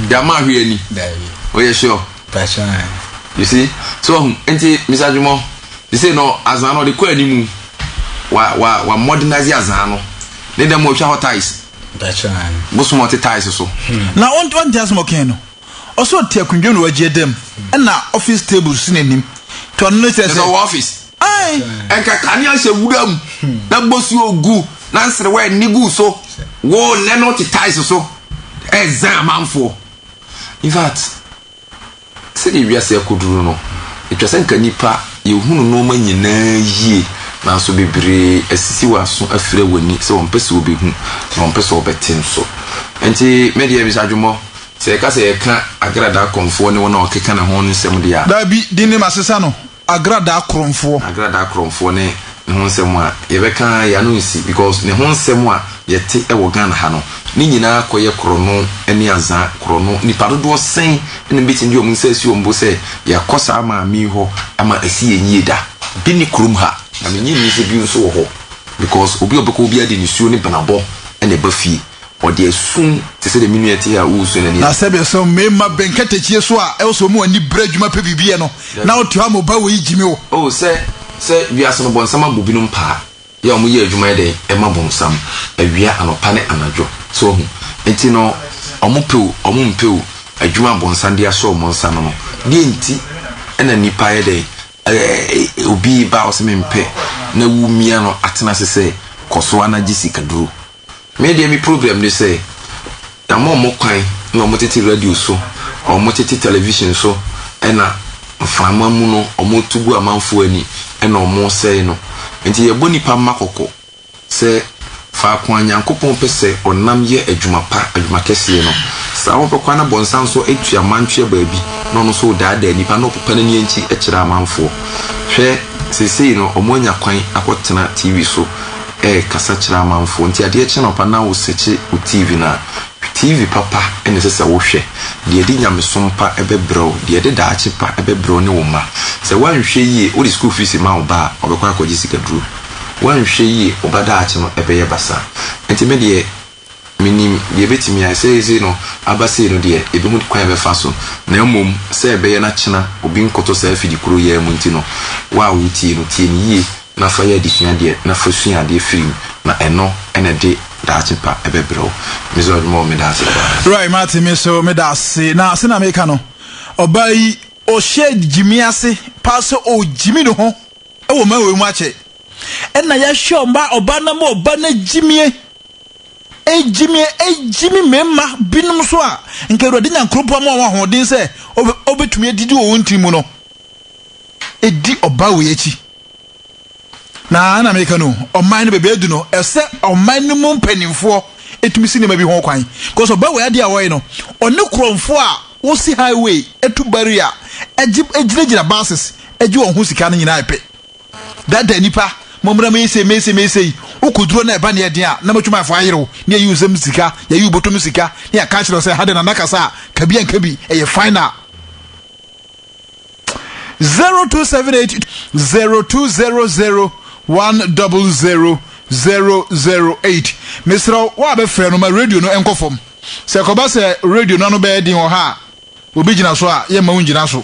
Dama hwɛ ni. Dabi. Oh, yeah, sure. Pacha. You see? So, um, nti, Mr. Jumo, you say no, azan no, the kwa ni mu, wa, wa, wa modernize azan no. Ne dem mo hwa ties. Pacha. Mo sumo te ties so. Hmm. Na on on ties mo ken no. Oso te akundwe no wagye dem. Hmm. Na office table si n'anim. To no ne sɛ sɛ. Ɛsɛ wɔ office. Ae, ɛnka kanea hyɛ wura mu, na bosuo gu, na nserewa ani gu so. Wo nnɛ no te tiles so ɛzan amanfoɔ. In fact, sɛdeɛ wiase akɔduru no, ɛtwa sɛ nka nnipa yɛhunu nneɛma nyinaa yie, nanso bebree asisi wɔn aso afira wɔn ani sɛ wɔmpɛ sɛ wɔbɛhu na wɔmpɛ sɛ wɔbɛte nso. Ɛnti me deɛ Mister Adwommɔ, sɛ yɛka sɛ yɛka Agradaa Kɔmfoɔ ne wɔn a wɔkeka ne ho no nsɛm deɛ a, Daabi, din ne masesa no, Agradaa korɔmfoɔ. Agradaa korɔmfoɔ ne ne ho nsɛm a yɛbɛka ara yi ano nsi because ne ho nsɛm a yɛte wɔ Ghana ha no ne nyinaa kɔyɛ korɔno ne azaa korɔno. Nnipa dodoɔ sɛn na bɛtumi de wɔn nsa asi wɔn bo sɛ yɛakɔ saa maame yi hɔ ama asi yɛn yie da? Bi nni kurom ha na mennye nni sɛ bi nso wɔ hɔ because obi a ɔbɛkɔ hɔ biara de nisuo ne bnabɔ na ɛba fie. Ɔde asum te sɛ deɛ me nua te a ɔresua n'ani ase. Na sɛdeɛ sɛ mmarima bɛ nkatakyie so a ɛwɔ sɛ wɔn ani bere adwuma pɛ biribi yɛ no, na wote hɔ a mo ba wei gyimi wo. O sɛ sɛ wiase no bɔnsam abɔ binom paa yɛ a wɔn yɛ adwuma yɛ dɛn ɛma bɔnsam awia anɔpa ne anadwo so wahu nti no wɔn pɛ o wɔn mpɛ o adwuma a bɔnsam de asɔ wɔn nsa no no deɛ nti ɛna nnipa yɛ dɛn ɛɛ obi ba ɔsɛ me mpɛ na wu mia no atena ase sɛ kɔso a na gye sika duro. Me deɛ me problem ne sɛ yama ɔmo kwan na ɔmo tete radio so, ɔmo tete television so ɛna mframa mu no ɔmo to gu amanfoɔ ani ɛna ɔmo sɛe no. Nti yɛbɔ nipa mma kɔkɔ sɛ faako a Nyankopɔn pɛ sɛ ɔnam yɛ adwuma pa, adwuma kɛseɛ no, saa ara wobɛkɔ ana bɔnsa nso atua mantweɛ baabi na ɔno nso redaadaa nipa na ɔpopa n'ani ankyi kyerɛ amanfoɔ. Hwɛ seesei no ɔmo anya kwan akɔ tena TV so. rekasa kyerɛ amanfoɔ nti adeɛ kye anɔpa na wo sɛkye wo TV no a, hwɛ TV papa na ɛsɛ sɛ wo hwɛ, deɛ ɛde nyamesom pa bɛbrɛ wo, deɛ ɛde daakye pa bɛbrɛ wo ne wo mma. Sɛ woanhwɛ yie, wode sukuu fees ma wo ba a, ɔbɛkɔ akɔgye sika duro. Woanhwɛ yie, wo ba daakye no bɛyɛ basaa. Nti me deɛ. Mennim deɛ ɛbɛtumi ayɛ. Seesei no, aba sei no deɛ, yɛbɛhu kwan a yɛbɛfa so. Na mmom, sɛ ɛbɛyɛ na kyena obi nkɔtɔ saa afidi koro yi ara mu nti no, wo a woretie no, tie no yie na fa yɛ adesua deɛ, na fa sua adeɛ firi mu, na ɛno na ɛde daakye pa bɛbrɛ wo. Me Zord Moore, meda ase paa. Roy Martin, me nso meda ase. Na sɛnea meka no, ɔbaa yi, ɔhyɛ gyimi ase paa sɛ ɔregyimi ne ho wɔ mmaa wei mu akyɛ. Ɛnna yɛahwɛ ɔbaa no ama ɔbaa no agyimie. Egyimi egyimi mmarima binom nso a nka Awurade Nyankoropɔn ama wɔn ahoɔden sɛ wɔbɛtumi adidi wɔ wɔn tiri mu no di ɔbaa wei akyi. Na na meka no, ɔman no baabi adu no, ɛsɛ ɔman no mu mpanimfoɔ ɛtumi si nneɛma bi ho kwan. Because ɔbaa wei adeɛ a wɔyɛ no, ɔne kurɔmfoɔ a wɔsi highway, ɛtu barrier, ɛgyinagyina buses, ɛgye wɔn ho sika no nyinaa ɛpɛ. Daadaa nnipa, mommra meesei meesei meesei, wo kuduro na ɛba ne ɛden a, na m'adwumayɛfoɔ ayere wo, na yɛyi wo nsam sika, yɛyi wo bɔtɔ mu sika, na yɛaka akyerɛ wo sɛ, ha deɛ Nana kasa a, ka bi anka bi, ɛyɛ final. Zero two seven eight zero two zero zero one double zero zero zero eight. Mesrɛ wo, wo a bɛfrɛ no ma radio no nkɔ fam. Sɛ ɛkɔba sɛ radio no ano bɛyɛ den wɔ ha a, obi gyina so a, yɛmma wo ngyina so.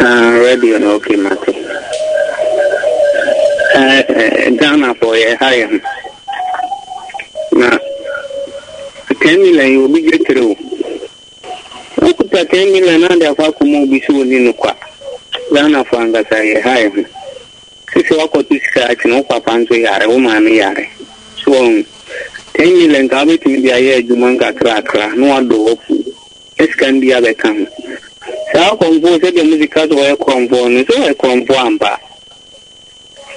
Ah radio no okay mate. Eh, eh, Ghana fo yɛ ha yɛ ho. Na 10 million yi obi gye tere o. Wokuta 10 million na de akɔ akɔma obi so oni no kwa. Ghana fo ankasa yɛ ha yɛ ho. Sisi wakɔto sika akyi na wo papa nso yare, wo maame yare. So, 10 million ka wobɛtumi de ayɛ adwuma nkakrakra na wadɔ wafu. Esikan bi abɛka ho. Saa korɔmfoɔ sɛdeɛ mode ka sɛ ɔyɛ korɔmfoɔ no, sɛ ɔyɛ korɔmfoɔ ampa a,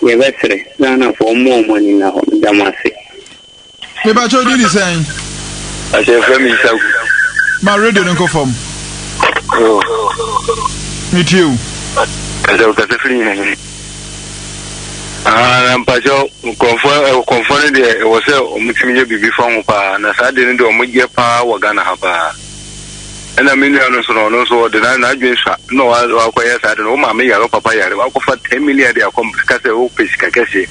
yɛbɛsrɛ Ghanafoɔ mma wɔn ani nna hɔ. Meda mo ase. Me ba kyɛw din ni sɛn. Ase efra mi nsa gu. Ma radio ne nkɔ fam. Oh. Me tie o. Kasa o kasa firi nyina nyina. Ahaa na mpakyɛw nkurɔfoɔ ɛ nkurɔfoɔ no deɛ ɛwɔ sɛ wɔn tumi yɛ biribi fa ho paa na saa adeɛ no deɛ wɔn yɛ paa wɔ Ghana ha paa ɛna me nua no nso no ɔno nso ɔde na n'adwene sua na wa wakɔ yɛ saa de no wo maame yare papa yare wakɔ fa ten million de akɔ mpa kasɛ wo pɛ sika kɛseɛ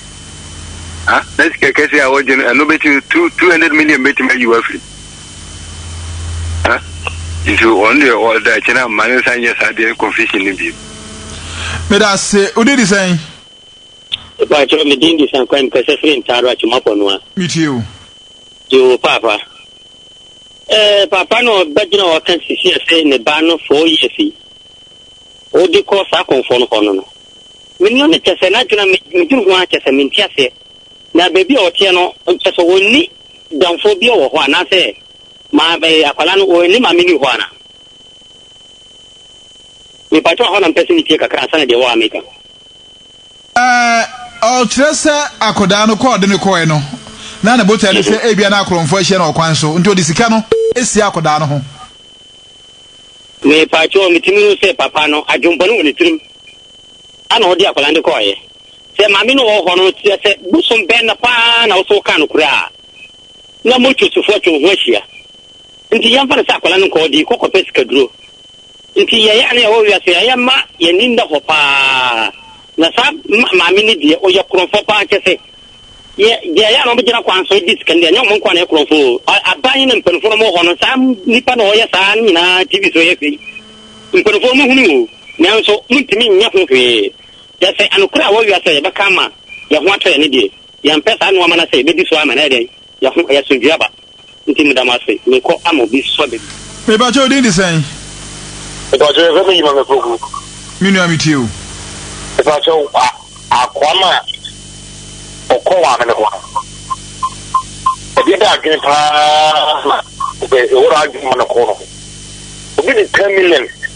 ha na sika kɛseɛ a wɔgye no ɛno bɛtumi two two hundred million bɛtumi ayi wafiri nso ɔno deɛ ɔda akyi na mma ne nsa nyɛ saa deɛ confession no bio meda se wode di sɛn ɛbaakyerɛ medin de sankwan mu kɛsɛ fere ntaaro akyemapɔ no a metie o yoo paapa ɛɛ paapa no ɔbɛgyina ɔka sisi ɛsɛ ne ba no four years yi ɔde kɔ saa kɔnfɔ no hɔ no no menno ne kyɛ sɛ n'adwena medwene ho a kyɛ sɛ mente aseɛ na baabi a ɔteɛ no kyɛ sɛ ɔnni Damfoɔ biara wɔ hɔ anaasɛ ma eh, akwadaa no ɔne maame nni hɔ ana? Mepakyɛw hɔ na mpɛ sɛ metie kakra ansa na deɛ ɛwɔ ha meka. Eh, oh, kyerɛ sɛ akwadaa no kɔɔ de no kɔɛ no, na ne botae ne sɛ ebia na akorɔmfoɔ ahyia no ɔkwan so, nti ɔde sika no asie akwadaa no ho. Mepakyɛw, metumi hu sɛ papa no, adwempɔne wɔ ne tirim, ana ɔde akwadaa no de kɔɔeɛ. sɛ maame no wɔ hɔ no, kyerɛ sɛ bosom bɛn na paa na wo sɛ wokaa no koraa na mo twosofo atwa wo ho ahyia. Nti yɛmfa no sɛ akwadaa no nkɔ ɔde kɔ kɔpɛ sikaduro. Nti yɛyɛ a na yɛwɔ wiase a yɛma yɛn ani nna hɔ paa. Na saa maame no deɛ ɔyɛ korɔmfoɔ paa kyɛ sɛ yɛ deɛ yɛ a na wɔbɛgyina kwan so di sika no deɛ ɛnyɛ wɔn nkoa na yɛ korɔmfoɔ aban na mpanimfoɔ no wɔ hɔ no saa nipa na ɔyɛ saa no nyinaa tv so yɛ fɛ yi mpanimfoɔ mo hunu o nanso mo ntumi nyɛ ho hwee. Hwɛ sɛ anokore a wɔwea sɛ yɛbɛka ama yɛn ho atɔ yɛn no deɛ, yɛmpɛ saa nnoɔma no a sɛ yɛbɛdi so a ma no ayɛ dɛn? Yɛn ho ayɛ asomdwie aba. Nti meda mo ase, merekɔ ama obi sua biribi. Mepakyɛ wo din de sɛn? Mepakyɛ yɛfrɛ me Yimame Poku. Me nua me tie o. Mepakyɛ wo akoa no a ɔkɔ wɔ amene hɔ no ɛdeɛ bɛ adwene paa na ɛwɔ adwene ma no kɔ no obi de ten million.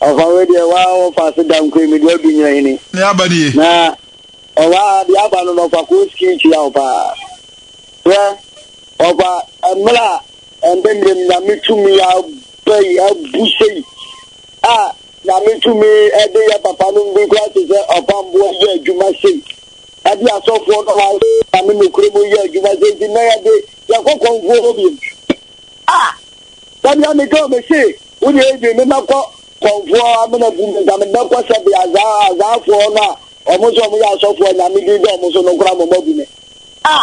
Ɔfa wei deɛ waa wɔfa ase da nkoe me deɛ ɔdu nyina hini. Ne aba nie. Na ɔwaa deɛ aba no na ɔfa koo skin kyia wo paa. Hwɛ ɔfa mmerɛ a ɛndɛ mmerɛ mu nyame tumi aba yi abu sei a nyame tumi ɛde yɛ papa no bi kura te sɛ ɔfa mboɔ yɛ adwuma sei ɛde asɔfoɔ no wa nyame nokure mu yɛ adwuma sei nti na yɛde yɛkɔ kɔnfoɔ hɔ bi a sɛdeɛ meka ɔmɛse Wode ebi me mɛkɔ kɔmfoɔ amena gu me nka me bɛkɔ sɛbe azaa azaafoɔ no a ɔmo sɛ ɔmo yɛ asɔfoɔ a nyame din da ɔmo so no koraa mɔmɔ agu me a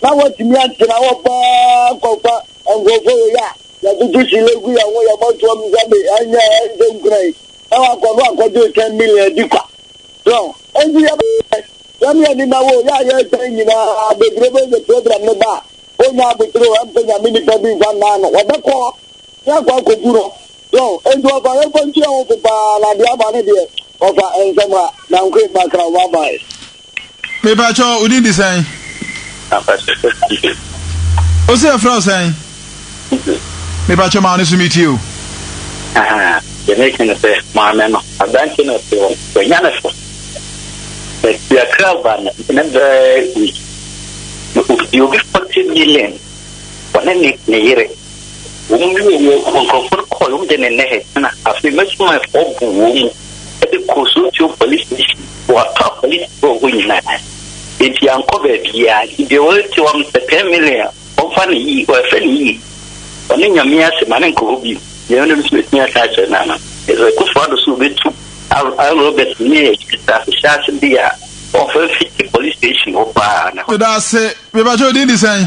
na wɔtumi antena hɔ paa kɔfa nkurɔfoɔ wei a yɛtoto hyile gu yɛn ho yɛbɔ toɔ mu sɛ me ɛnyɛ ɛnsɛ nkura yi na wakɔ no akɔgye 10 million adi kwa so ɛnti yɛbɛyɛ yɛne yɛne na wo yɛ a yɛtan nyinaa bebrebe yɛ program no ba a ɔnya abotire ɔ ɛmpɛ nyame nipa bi mfa nnaa no wɔbɛkɔ na akɔ akɔku no so enti wɔfa yɛmfa nkyerɛ ho so paa na deɛ aba ne deɛ wɔfa nsɛm a nankoe bakra wo abae mepakyɛ wo din de sɛn o sɛ ɛfrɛ wo sɛn mepakyɛ ma wo ne so metie o yɛmɛka no sɛ maame no aberante no ɔte hɔ wanya ne so yɛkra ba no ne bɛɛ wi na obi 40 million ɔne ne yere Wɔn mu wɔ wɔ nkurɔfoɔ no kɔɔ wɔn de ne nnɛ he na afei m'asumanfoɔ bu wɔn mu de kɔɔ Sontio police station wɔ atɔ apolisifoɔ hɔ nyinaa enti ankɔ baabiaa nti deɛ wɔte wɔn sɛ 10 million wɔmfa ne yie wɔɛfɛ ne yie ɔne nyame ase ma ne nkɔ hɔ bio deɛ ɔne nso ɛtumi aka akyerɛ no ano ɛsɛ kofo ado so wɔbɛtu Robert ne ahyɛ ase de a wɔfa fiti police station hɔ paa na. Meda ase, mebɛkyɛ odin de sɛn?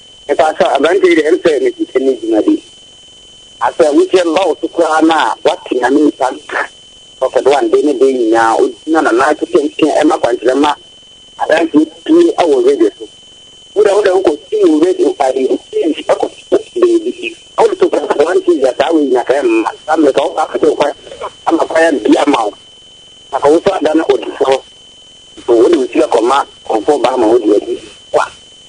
Mepakyɛw, aberante yi de, ɛyɛ me sɛ ne sika nni dwuma bi. Asɛ ahokyerɛ no ba wo so koraa no a, woate nea me nipa no ka. Prophet One, de ne de nyinaa, ogyina no nan so piapia ɛma akwankyerɛ ma adanseɛ pue wɔ radio so. Wo dɛ, wo dɛ wokɔ si wo radio, ɛyi, wo TV ɛkɔ so baabi. Na wode to Prophet One TV a, saa wei nyina ka ɛmma. Saa mmerɛ ka wo ba afɛte wo kwan ama kwan abie ama wo. Na ka wo so adane odifoɔ. So wode wo sika kɔma nkurɔfoɔ ba ama wɔde adi kwa?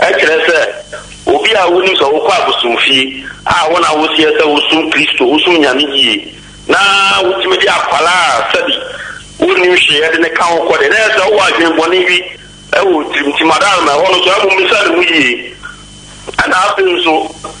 Ɛkyerɛ sɛ, obi a wunim sɛ wokɔ abosomfie a wo na woseɛ sɛ wosom Kristo, wosom Nyame yie, na wotumi de akwadaa a sɛbi wonnim hwee yɛ de no ka wo kɔ deɛ, na ɛyɛ sɛ wowɔ adwene bɔne bi wɔ wo tirim. Nti, Madalma, ɛhɔ no nso, ɛho mmisa ne mu yie. Ɛnna afei nso.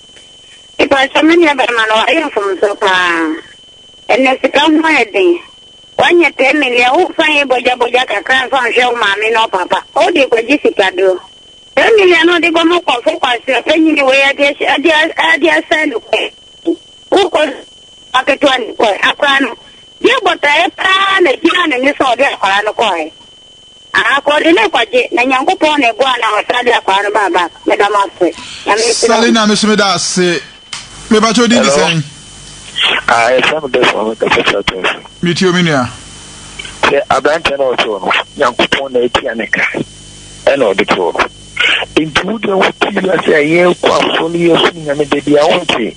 Mepakyɛw me nua barima no wayɛ mfomso paa. Ɛnɛ sika ho ayɛ den. Wanyɛ pɛ mmeli a womfa nyɛ bɔgya bɔgya kakra mfa nhwɛ wo maame ne ɔpapa. Wode kɔgye sika duro. Pɛ mmeli a na ɔde kɔ ma kɔfo kwasea panyini wei ade ahyɛ ade ade asɛn no kɔ. Wokɔ aketewa ne kɔ akora no. Yɛ bɔtaeɛ paa na gyina ne ne sɛ ɔde akora no kɔɛ. Aha kɔ ɔde ne kɔgye na nyankopɔn na ɛboa na ɔsan de akwaa no baa back meda mo ase nyame nhyira mo. Salina me so meda ase me ba kyɛ odin de sɛn. Ah yɛfrɛ me Desmond me kasa firi Akansi. Me tie o me nua. Sɛ aberanteɛ no ɔtoo no nyankopɔn na atua ne ka ɛna ɔde too no nti wo deɛ wo te wiase a yɛkɔ asɔre yɛsom nyame da bi a wonte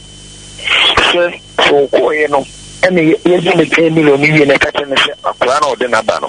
sɛ sɛ ɔkɔɔyɛ no ɛna yɛgye ne 10 million no wie na ɛka kyerɛ no sɛ akora na ɔde no aba no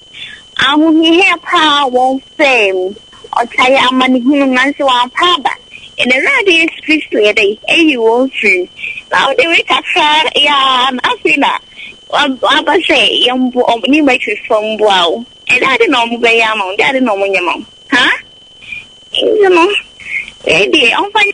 Ahohiahia paa wɔn faa mu, ɔtae amanehunu, nanso wɔampa aba. Yɛn Awurade Yesu Kristo yɛ dɛn? Ayi wɔn firi mu. Na wode wei kakra yɛ ara na afei na waba sɛ yɛmmoa wɔn, ne mmatirifo mmoa wo. Ɛde ade na wɔbɛyɛ ama wo, ɛde ade na wɔnyɛ ma wo. Ha? Nti no, wei deɛ, ɔmfa nyɛ.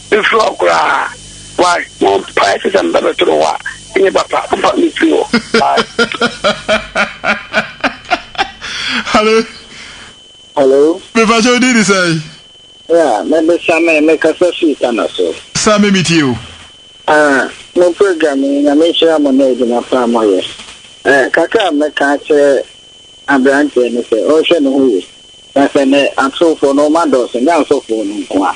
Mefiri hɔ koraa why mo mpae te sɛ meba bɛtoro hɔ a ɛnyɛ papa mompa me mfiri hɔ why. Hello. Hello. Mepakyɛ wodi ni sɛn? Yeah, me de Same me kasa fii Tana so. Same me tie o. Ah, mo program yi nyame nhyira mo ne adwuma pa a moyɛ. Eh, kakra a mɛka akyerɛ aberanteɛ no sɛ ɔnhwɛ ne ho yie. Na sɛ ne atorofoɔ no ɔma dɔɔso nyɛ asɔfoɔ no nko a.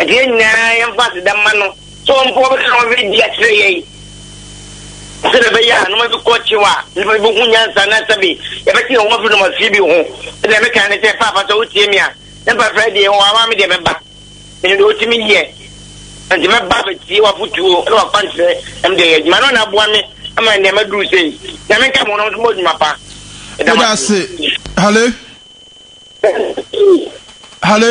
Enti yɛn nyinaa yɛmfa aseda mma no sɛ ɔmpo ɔbɛka nneɛma bi adi akyerɛ yɛn sɛdeɛ ɛbɛyɛ a nneɛma bi kɔ kyew a nnipa bi bɛhu nyansa na sɛbe yɛbɛte yɛn ho afiri nneɛma fie bi ho sɛdeɛ meka ne sɛ paapa sɛ wotie me a ne mpafra deɛ wɔ awa me deɛ mɛba ɛno deɛ wotumi yɛ nti mɛba bɛtie wafotuo ne wakwankyerɛ ɛm deɛ yɛ adwuma no na aboa me ama nneɛma duru sei nyame nka mo nom so mɔ adwuma pa ɛdamase hale hale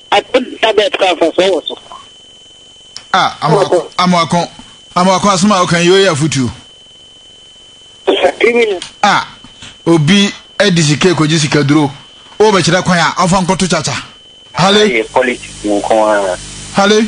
Ato nsa bɛɛ kura mfasoɔ wɔ so. A amoako amoako amoako asoma a ɔkan yi ɔyɛ afutuo. A obi ɛdi sika ekɔgye sika duro o bɛkyerɛ kwan a ɔfa nkɔto kyakya. Hale. Hale.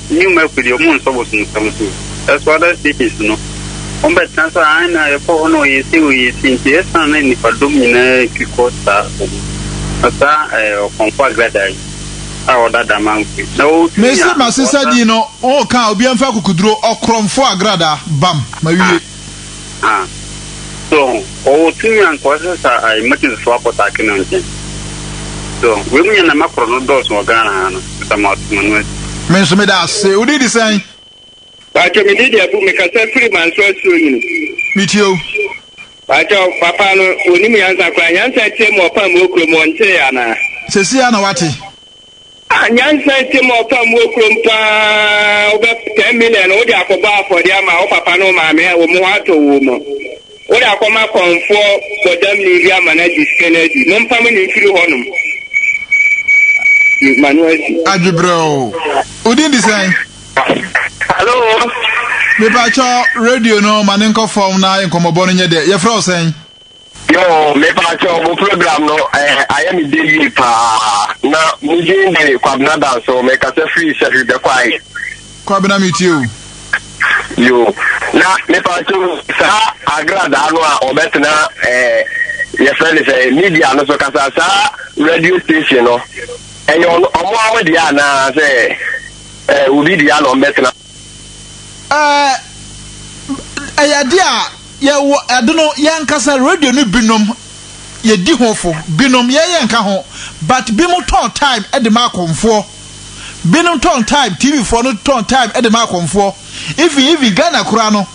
Nnwuma aku deɛ ɔmo nsɔ bosomsɛm so. Ɛso other stages no ɔmo bɛ tena sɛ ae na yɛkɔ hɔ na ɔyɛ sei ɔyɛ sei nti ɛsan na nipa dɔm nyinaa twi kɔ saa hɔ no na saa ɛɛ ɔkɔmfo agrada yi a ɔda Damangue na ɔtwi Mese a masesa ɔsan. din no, oo kaa obiara mfa akukuduro, ɔkrɔmfo agrada, bam, mawie. a, so ɔwɔ tumi a nka ɔsɛ sɛ a emergencyfoɔ akɔtaake no nkyɛn? So wei mu nneɛma korɔ no dɔɔso wɔ Ghana ha no, sɛ mo ato mo ani. Me nso meda ase. Wo din de sɛn? Pàtó mi di di abu mi kasa firi manso asuo nyini. Mi tie o. Pàtó papa no onim yansa koraa yansa tie mu ɔpam okuro mu ɔntee anaa. Sɛsi a na wate. Ah nyansa nti ma ɔfa mmuo kurom paa wobɛ ten million wode akɔbɔ afɔdeɛ ama wo papa ne wo maame a wɔn ho atɔ wo mu wode akɔma kɔnfoɔ bɔdamni bi ama no agye sika no adi mompam no mfiri hɔ nom ma no asi. Adwebrɛw. Wo din de sɛn? Hello. Mepakyɛ radio no ma ne nkɔ fam na nkɔmmɔbɔ no nyɛ dɛ. Yɛfrɛ wo sɛn? Yoo mepaa kyɛw mo program no ɛɛ ayɛ me dɛ yie paa na mo din de Kwabena Danso mekasa firi Sahwi Bɛkwae. Kwabena metie o. Yoo na mepaa kyɛw saa agradaa no a ɔbɛtena ɛɛ yɛfrɛ no sɛ media no so kasa saa radio station no ɛyɛ ɔmo ara mo deɛ anaa sɛ ɛɛ obi deɛ na ɔmo bɛtena. ɛɛ ɛyɛ ade a yɛwɔ ɛde no yɛn ankasa radio no binom yɛdi ho fo binom yɛyɛ nka ho but binom tɔn time ɛde ma akɔmfoɔ binom tɔn time tv foɔ no tɔn time ɛde ma akɔmfoɔ even even ghana koraa no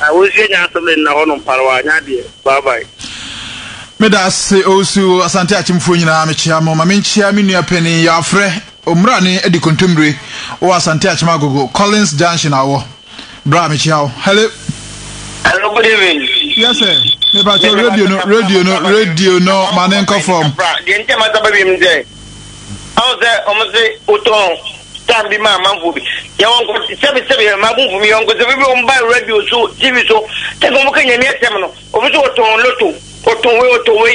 Ah Owusu nya asɛm de nna hɔ nom pare w'anya adeɛ bye bye. Meda ase Owusu, Asante akyemfoɔ nyinaa mekyea mo. Ma menkyea me nua panin Yafrɛ Omurane adi kontommire wɔ Asante akyem Agogo, Collins Junction a ɔwɔ. Bra mekyea wo. Hello. Hello good evening. Yes sir. Me pa cho radio no radio no radio no ma ne nkɔ fam. Deɛ nti a ma saba wiem sɛ. Ɔn sɛ ɔmo se wotɔn tan bi ma amanfoɔ bi, yɛ wɔn kɔ sɛbi sɛbi yɛ m'abunfo me yɔnko sɛ bebia ɔmo ba radio so, TV so, sɛbi ɔmo ka Nyame asɛm no, obi se ɔtɔn loto, ɔtɔn wei, ɔtɔn wei.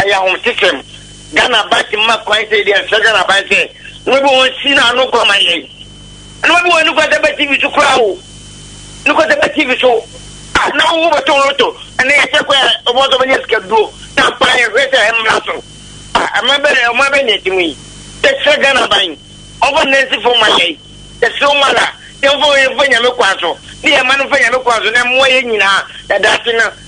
ɛyɛ ahomtesɛm ghana aban ti ma kwan sɛ deɛ nsɛ ghana aban sɛ wobɛbi wɔn si no ano kɔ ma yɛn ɛna wobɛbi wɔn nokɔsɛ bɛ tv so koraa o nokɔsɛ bɛ tv so a na wo bɛtɔ loto ɛna yɛkyɛ kɔ ɛ ɔbɔ sɛ bɛnyɛ sika duro na mpa yɛhwɛ sɛ ɛmmra so a ɛma bɛ ɛma bɛ nyɛ ti mu yi yɛkyɛ ghana aban ɔbɔ nansi fo ma yɛn yɛsɛ wɔn ara yɛmfa yɛmfa nyame kwan so ne yɛma no mfa nyame kwan so na mmoa yɛ nyinaa ɛdaase no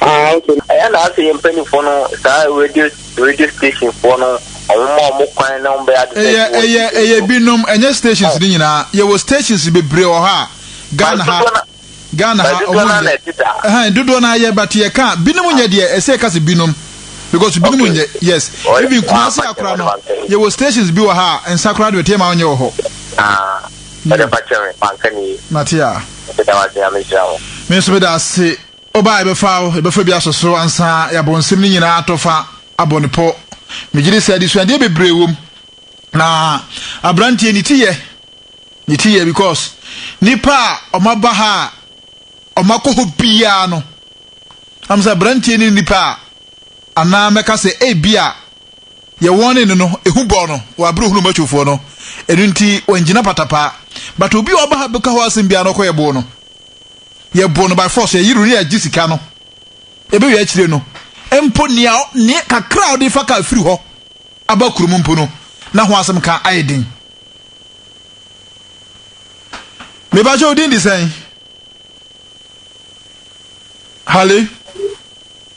Ah ok. Ɛyɛ na asɛ yɛn mpaninfoɔ no saa radio radio station foɔ no ɔmo ma ɔmo kwan na ɔmo bɛyɛ ade sɛ ɛyɛ ɛyɛ ɛyɛ binom ɛnyɛ stations ne nyinaa yɛwɔ stations bebree wɔ hɔ a Ghana ha Ghana ha ɔmo nyɛ ɛhɛn dodoɔ naa yɛ but yɛ ka binom nyɛ deɛ ɛsɛ ɛka sɛ binom because binom nyɛ yes even Kumasi akora no yɛwɔ stations bi wɔ ha a nsa koraa deɛ ɔtɛ ma ɔnyɛ wɔ hɔ. Ah. Ɔde fa kyɛ me, manka ne yie. Mate a. Meda wo ase, Nyame nhyira wo. Me nso meda ase. Woba a yɛbɛfa wo, yɛbɛfa bi asɔ so ansa yɛabɔ nsɛm no nyinaa atɔ fa abɔ no pɔ. Megye di sɛ adesuadeɛ bebree wom. Na aberanteɛ ne ti yɛ, ne ti yɛ because nipa a ɔmaba ha a ɔmakɔ hɔ biara no, am sɛ aberanteɛ ne nipa a anaa mɛka sɛ ebi a Deɛ wɔne no no ehu bɔɔ no wɔ abere ohunuu Matufoɔ no, ɛno nti wangyina patapaa. But obi a ɔba ha beka hɔ asem biara no ɔkɔ yɛboo no. Yɛboo no by force, yɛyere no ne yɛagye sika no. Yɛbɛwie akyire no mpo nea nea kakra a ɔde fa kaa firi hɔ aba kurom mpo no na ho asem ka ayɛ den. Mebakyɛ wo din de sɛn? Hale.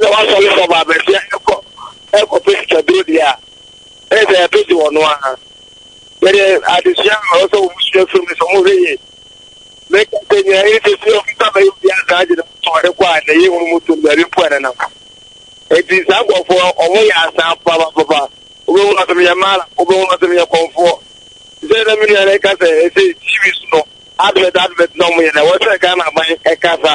sɛ wasɔre fam a baabi a ɛkɔ ɛkɔpɛ sikaduro deɛ a ɛyɛ sɛ ɛbɛgye wɔn ara yɛde adesua a ɔwɔ sɛ wɔn sua firi mu sɛ wɔn hwɛ yie mɛka sɛ nyɛ ɛyɛ sɛ sɛ wɔn nsa bɛyɛ obi asan agye ne mu tɔn de kɔ a na ɛyɛ wɔn mu tɔn baabi mpo a ne nam eti saa nkurɔfoɔ wɔn yɛ asan papapapa wɔbɛhu asɛm yɛ mmaara wɔbɛhu asɛm yɛ kɔnfoɔ sɛ ɛna mi nua na ɛka sɛ ɛsɛ tv so no advert advert na wɔn yɛ na wɔsɛ ghana aban ɛkasa.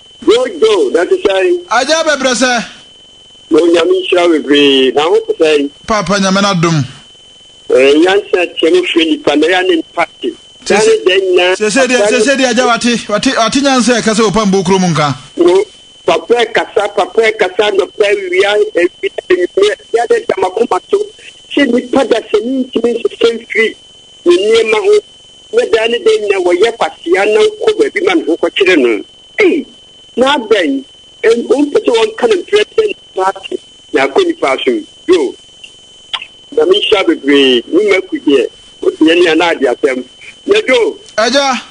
Bro Joe na te sɛn? Agya bɛbrɛ sɛ. Bro Nyame nhyira wo bebree, na ho te sɛn? Paapa Nyame n'adom. Eh, nyansa teɛ mu frɛ nipa, na yɛ ne nipa te. Daa ne da nyinaa. Sese deɛ, sese deɛ agya wate, wate, wate nyansa ɛka sɛ opa mbo kuro mu nka. Bro, papa ɛkasa, papa ɛkasa anɔpa awia, awia anwummerɛ, yɛ ne da makoma so, sɛ nipa dasani ntumi nsesɛ mfiri ne nneɛma ho. na daa ne daa nyinaa wɔyɛ kwasea na wokɔ baabi ma ne ho kɔkyere no. Ei, na adɛn? Ɛn, wompɛ sɛ wɔnka no mprɛnprɛ na ɔsan ate na akɔ nnipa som? Yo, Nyame nhyira bebree. Me Maku deɛ, wote yɛn nua no ade asɛm. Na Dwo. Agya.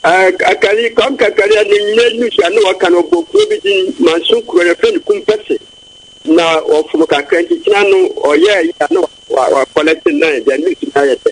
Ɛɛ, Kakari, Kwam Kakari a ne mmerɛ nu so a na wɔka no, ɔbɔ kuro bi din, Manso kuro, yɛfrɛ no Kumpese. Na ɔfom kakra nti, kyena no ɔyɛɛ yɛ a na wakɔlɛte nan, deɛ ne su no ayɛ dɛ.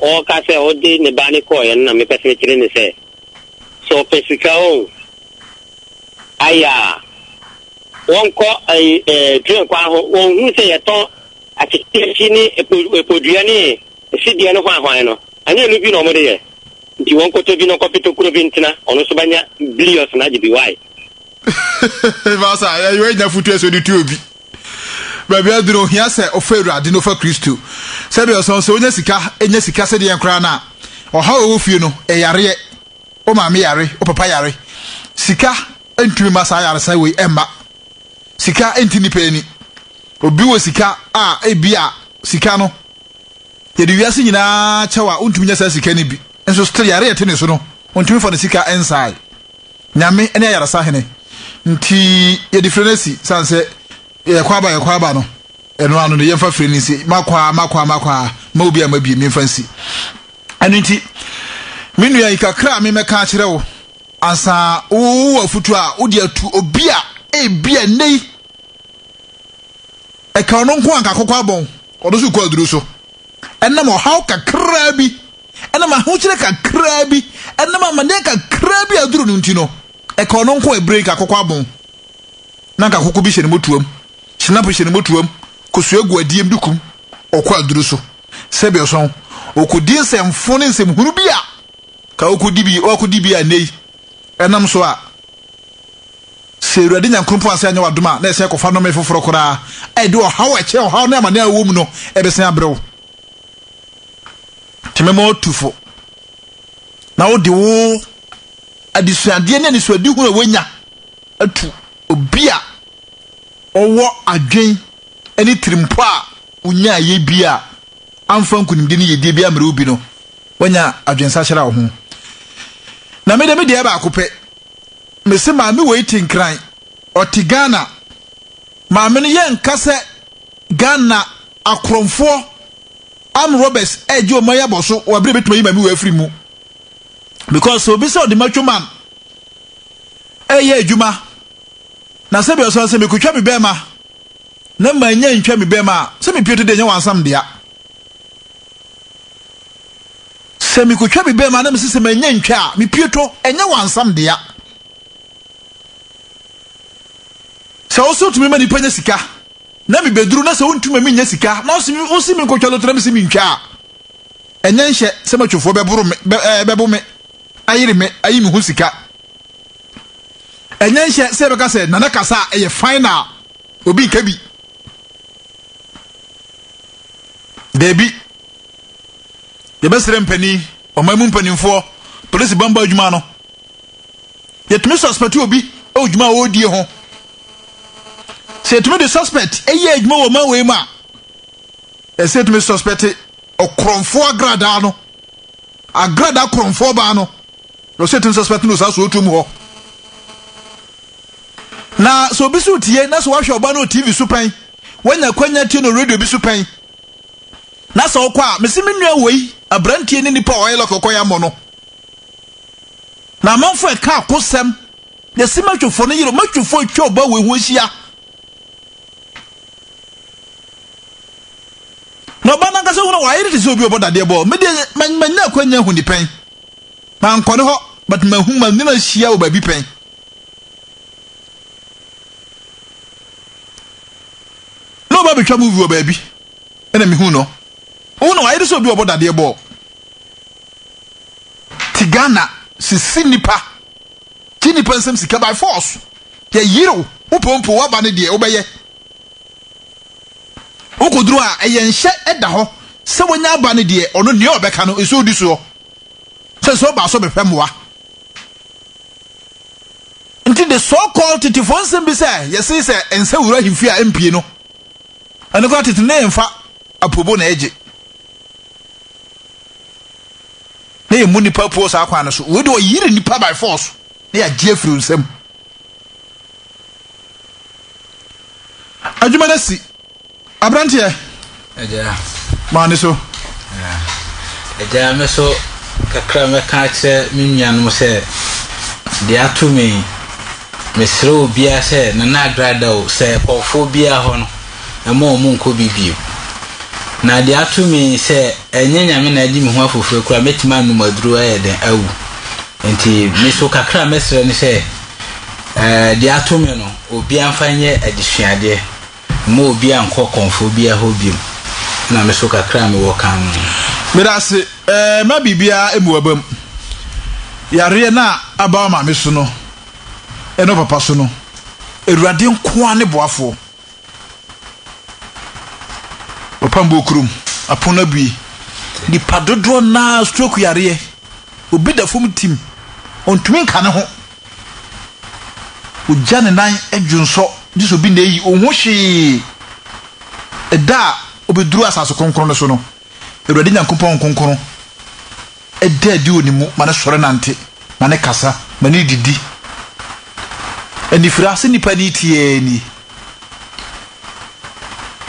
Ɔreka sɛ ɔde ne ba no kɔeɛ no na mepɛ sɛ mekyerɛ no sɛ, sɛ ɔpɛ sika o, ayaa, wɔnkɔ ɛyi ɛɛ train kwan ho, wɔnhunu sɛ yɛtɔn akyekyeakyi ne epo epodua ne esideɛ no hwanhwan no, ɛnyɛ ɛno bi na wɔde yɛ, nti wɔnkɔtɔ bi na ɔkɔpe tokuro bi ntena, ɔno nso bɛnya biliɔs na agye bi, wai? Masa, yɛyɛ yɛnya futuo sɛ ɔde tu obi. Baabi a adu no, ohia sɛ ɔfa Awurade na ɔfa Kristo. Sɛdeɛ ɔsɛ no, sɛ wonya sika, nya sika sɛdeɛ yɛn koraa no a, ɔhaw a ɛwɔ fie no, ɛyareɛ. Wo maame yare, wo papa yare. Sika ntumi ma saa yaresa wei ɛmma. Sika nti nnipa ani. Obi wɔ sika a, ebi a sika no, yɛde wiase nyinaa kyɛw a, wontumi nya saa sika no bi. Nso still yare a ɛte ne so no, ontumi fa ne sika nsae. Nyame ne ayaresa hene nti yɛde fire no asi sane sɛ yɛkɔ aba yɛkɔ aba no ɛno ano no yɛmfa fire no nsi makɔ a makɔ a makɔ a ma obi a mabie memfa nsi ɛno nti me nua yi kakra a memɛka akyerɛ wo ansa wowɔ afutuo a wode atu obi a ebi a nnɛ yi ɛka ɔno nko anka kɔkɔ abɔn ɔno so kɔ aduru so ɛnam ɔhaw kakraa bi Ɛnam ahokyerɛ kakraa bi, ɛnam amaneɛ kakraa bi a aduru no nti no, ɛka ɔno nko a ɛbrɛ yi ka kɔkɔ abon. Na nka koko bi hyɛ ne motuam, hyinapo hyɛ ne motuam, kosua gu adeɛm de kum, ɔkɔ aduru so. Sɛbi ɔsɔn, ɔkɔdi nsɛmfo ne nsɛmhunu bi a, ka ɔkɔdi bi, ɔakɔdi bi a ɛnnɛ yi, ɛnam so a, sɛ Awurade Nyankoropɔn ansan anyɛ wadom a, na ɛsan akɔfa nnome foforɔ koraa a ɛde ɔhaw a ɛkyɛn ɔhaw ne amaneɛ a wowɔ mu no, ɛbɛsan abrɛ wo. Nti mɛma woatu fo na wode wo adesuadeɛ ne anisoadeɛ hunu a woanya atu obi a ɔwɔ adwen ne tirimpo a wonyaa yɛ bi a amfa nkunimdie ne yɛdie bi ammere wo bi no wanya adwensahyera wo ho na mede me deɛ baako pɛ mese maame wei te nkran ɔte Ghana maame no yɛ nka sɛ Ghana Akorɔmfoɔ, armed robbers, regye wɔn ayabɔ so wɔ abere a ebetumi ayi maame wɔ afiri mu. Because sɛ obi sɛ ɔde macho man reyɛ adwuma na sɛ bi ɔsan sɛ mekotwa me bɛrima na manya ntwa me bɛrima a, sɛ mepie to deɛ nyɛ wansam dea. Sɛ mekotwa me bɛrima na mesi sɛ manya ntwa a, mepie to ɛnyɛ wansam dea. Sɛ wosɔ tumi ma nipa nya sika. na mebɛduru na sɛ wontumi ma mennya sika na wose menkɔtwa loto na mese mentwa a, ɛnyɛ nhyɛ sɛ matwofoɔ bɛboro me, bɛ, ɛɛ, bɛbo me, ayere me, ayi me ho sika. Ɛnyɛ nhyɛ sɛ yɛbɛka sɛ Nana kasa a ɛyɛ final, obi nka bi. Daabi. Yɛbɛsrɛ mpanin, ɔman mu mpanimfoɔ, polisi bambɔ adwuma no. Yɛtumi suspɛte obi wɔ dwuma a ɔredie ho. Sɛ yɛtumi de suspect yɛ adwuma wɔ ɔman wei mu a, ɛsɛ yɛtumi suspect ɔkorɔmfoɔ agradaa no, agradaa korɔmfoɔ baa no, na ɔsɛ yɛtumi suspect no saa sootuo mu hɔ. Na sɛ obi so tie na sɛ wahwɛ ɔbaa no wɔ TV so pɛn, wanya kwanya tie no radio bi so pɛn, na sɛ ɔkɔ a, mesi me nua wei aberanteɛ ne nipa a ɔyɛ lɔkɔkɔ yɛ amɔ no. Na amanfoɔ ɛka akosɛm Yɛse matwefo no yere matwefo atwa ɔbaa wei ho ahyia. Na ɔbaa nankasa hunu wayere te sɛ obi ɔbɔ dadeɛ bɔɔ. Me deɛ manya akwanya ahu ni pɛn. Mankɔ ne hɔ but mahu ma ne no ahyia wɔ baabi pɛn. Na ɔbaa betwa movie wɔ baabi ɛna mehu no. Ohun na wayere sɛ obi ɔbɔ dadeɛ bɔɔ. Ti Ghana sisi nipa Gye nnipa nsam sika by force. Yɛyerew. Wopɛ wompɛ w'aba ne deɛ wobɛyɛ. Wokoduru a ɛyɛ nhyɛ ɛda hɔ sɛ wanya aba ne deɛ ɔno nea ɔbɛka no nso odi soɔ. Sɛ nso ɔbaa so bɛhwɛ mmoa. Nti the so called tetefoɔ nsɛm bi sɛ yɛse sɛ ɛnsɛ wura ahemfie a ɛmpie no ɛno koraa tete no ɛmfa apobo na ɛgye. na yɛmmu nnipa apuo saa kwan no so. Wei deɛ ɔyere nnipa by force na yɛagye afiri wo nsam. Adwuma no si aberanteɛ. Agya. Maa ne so. Agya me so kakra mɛka akyerɛ me nuanom sɛ deɛ ato me mesrɛ obiara sɛ nana agrada o sɛ kɔɔfoɔ biara hɔ no mma wɔnnkɔ bi bio. Na deɛ ato me yi, sɛ ɛnyɛ Nyame na agye me ho afofire koraa a, mɛtumi anom aduro ayɛ dɛn awu. Nti me nso kakra a mɛsrɛ ne sɛ, eh, deɛ ato me no, obiara mfa nyɛ adesuadeɛ. Mma obiara nnkɔ kɔmfoɔ biara hɔ bio. Ɛna me nso kakra a mewɔ ka no. Meda ase. Eh, mma biribiara mmu w'abam. Yareɛ no a aba wo maame so no, ne wo papa so no, Awurade nko ara ne boafoɔ. Papa mbuo kurom, apon no abue. Nnipa dodoɔ no ara stroke yareɛ. Obi da fam tim, ɔntumi nka ne ho. Ogya ne nan dwonsɔ, gye sɛ obi na ayi, ɔnhu hwee. Ɛda a ɔbɛduru asase kronkron no so no, Awurade Nyankopɔn nkonkron Da adi wɔ ne mu ma no sɔre nante, ma no kasa, ma no didi. Anifere ase nipa ni tiaa ni.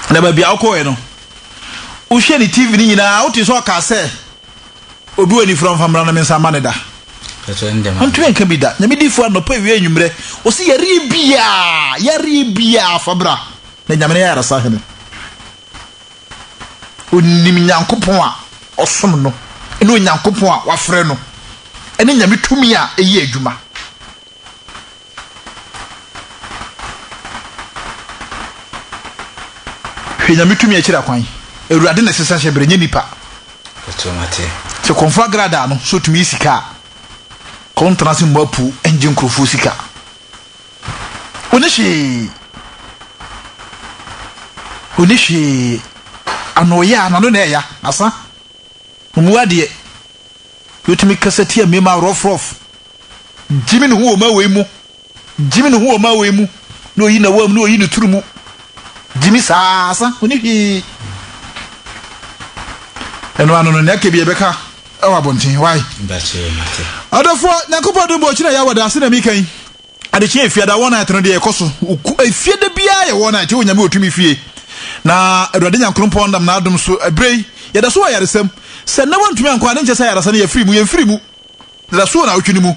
Na baabi a wokɔɛ no, wohwɛ ne TV no nyinaa, wote sɛ ɔkaa sɛ, obi wɔ anifere ɔmfa mmra na me nsa ma ne da. Ɔntumi nka bi da. Nyame difo anɔpa awie anwummerɛ, ɔsi yareɛ biaa, yareɛ biaa fa bra. Na Nyame ne ayaresa hene. Ɔnim Nyankopɔn a ɔsom no ne Onyankopɔn a wafrɛ no ne Nyame tumi a ɛyɛ adwuma. Hwɛ Nyame tumi a ɛkyerɛ akwan. Awurade na ɛsesa hyɛ berɛ, nyɛ nipa. Sɛ kɔmfo agradaa no sɛ ɔtumi yɛ sika a, kɔntena ase mmɔ apuo ngye nkurɔfoɔ sika. Onni hwee. Onni hwee. Ano ya, n'ano na ɛya, asa. Ɔmu adeɛ. Wotumi kasa tia mmarima rɔf rɔf. Gyimi ne ho wɔ mmaa wei mu. Gyimi ne ho wɔ mmaa wei mu. Na oyi na wɔm, na oyi ne turu mu. Gyimi saa, asa. Onni hwee. Ɛno ano no, nea aka bi ɛbɛka ɛwɔ abɔnten. Why? Ɔdɔfoɔ, Nyankopɔn dom bɔ ɔkyena ya wɔ daase na mika yi. Adekyeɛ efiada wɔn night no deɛ ɛkɔ so efiada biara yɛ wɔn night ɛwɔ nyame otumi fie na awurade nyankorompɔn nam n'adom so ɛberɛ yi yɛda so wɔ ayaresɛm sɛ nnɛ wɔntumi ankɔ a ne nkyɛ sɛ ayaresa no yɛfiri mu yɛmfiri mu da so wɔ nawotwe no mu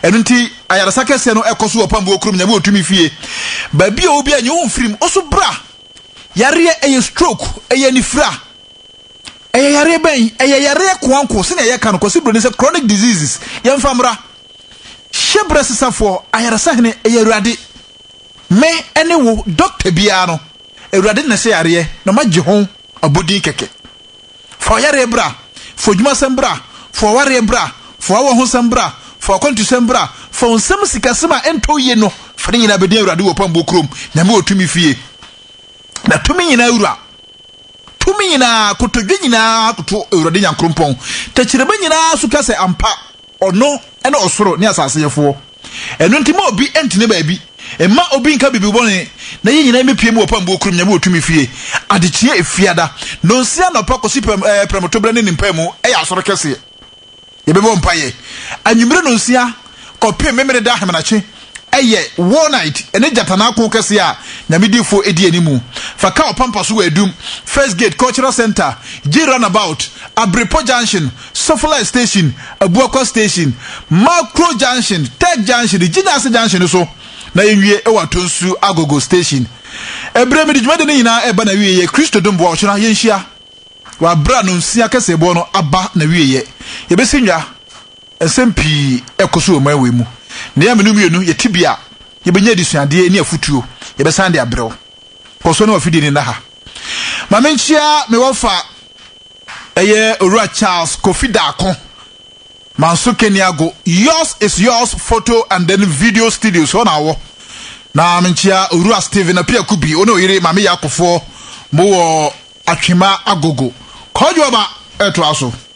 ɛno nti ayaresa kɛseɛ no ɛkɔ so wɔ pambuo kurom nyame otumi fie baabi a obi a nyɛ ho mfiri mu ɔso bra yareɛ ɛyɛ stroke ɛyɛ anifira ɛyɛ yareɛ bɛn ɛyɛ yareɛ koanko sɛnea yɛka no kwasi buroni sɛ chronic diseases yɛmfa mmra Hyɛ berɛ sesafoɔ ayaresa hene ɛyɛ Awurade Me ne wo doctor biara no Awurade na ɛsɛ yareɛ na magye ho abodin kɛkɛ Fa ɔyareɛ bra Fa odwumasɛm bra Fa ɔwareɛ bra Fa wawɔ ho sɛm bra Fa wakwantusɛm bra Fa onsɛm sikasɛm a ɛntɔ yie no Fa ne nyinaa bɛdin Awurade wɔ pambuo kurom Nyame wɔ tumi fie Na tumi nyinaa wura Tumi nyinaa kotodwe nyinaa koto Awurade Nyankrompɔn Tɛkyerɛma nyinaa so ka sɛ ampa Ɔno ne ɔsoro ne asase Yɛfoɔ. Ɛno nti mma obi ntene baabi, mma obi nka biribi bɔne, na yɛn nyinaa mmɛpue mu wɔ pambuo koro mu, Nyame wɔ tumi fie, adekyeɛ efiada, nɔnsia anɔpa kɔsi pɛm ɛɛ prɛmtoberɛ ne ne mpaemu yɛ asɔre kɛseɛ. Yɛbɛbɔ mpaeɛ anwummere nɔnsia kɔpem Memeneda ahemenakye. ɛyɛ walnut ne gyatanaakõ kɛse a Nyame difo di anim. Fa ka ɔpampa so wɔ Adum, First Gate Cultural Centre, Gye Runabout, Abirepɔ Junction, Sofolight Station, Abuakwa Station, Makuro Junction, Tech Junction, ne Gyinaase Junction no so, na yɛnwie wɔ Atonsu Agogo Station. Bere a mede dwumadi no nyinaa reba n'awieeɛ, Kristo dom boa, ɔkyena yɛnhyia wɔ abere a Nonsia Kɛseɛboɔ no aba n'awieeɛ. Yɛbɛsi nnwa. Nsɛm pii rekɔ so wɔ mmeae wei mu, na yɛn a me ne wo mmienu yɛte bi a, yɛbɛnya adesuadeɛ ne afotuo. Yɛbɛsan de abrɛ wo. Kɔ so ne w'afidie no nna ha. Ma menkyea me wɔfa, ɛyɛ Owura Charles Kofi Darko, Manso Keniago, Yours is Yours Photo and then Video Studios, hɔ na ɔwɔ. Na menkyea Owura Stephen Apiakubi, wo ne wo yere Maame Yakofoɔ, mowɔ Atwema Agogo. Kwadwoaba ɛtoa so.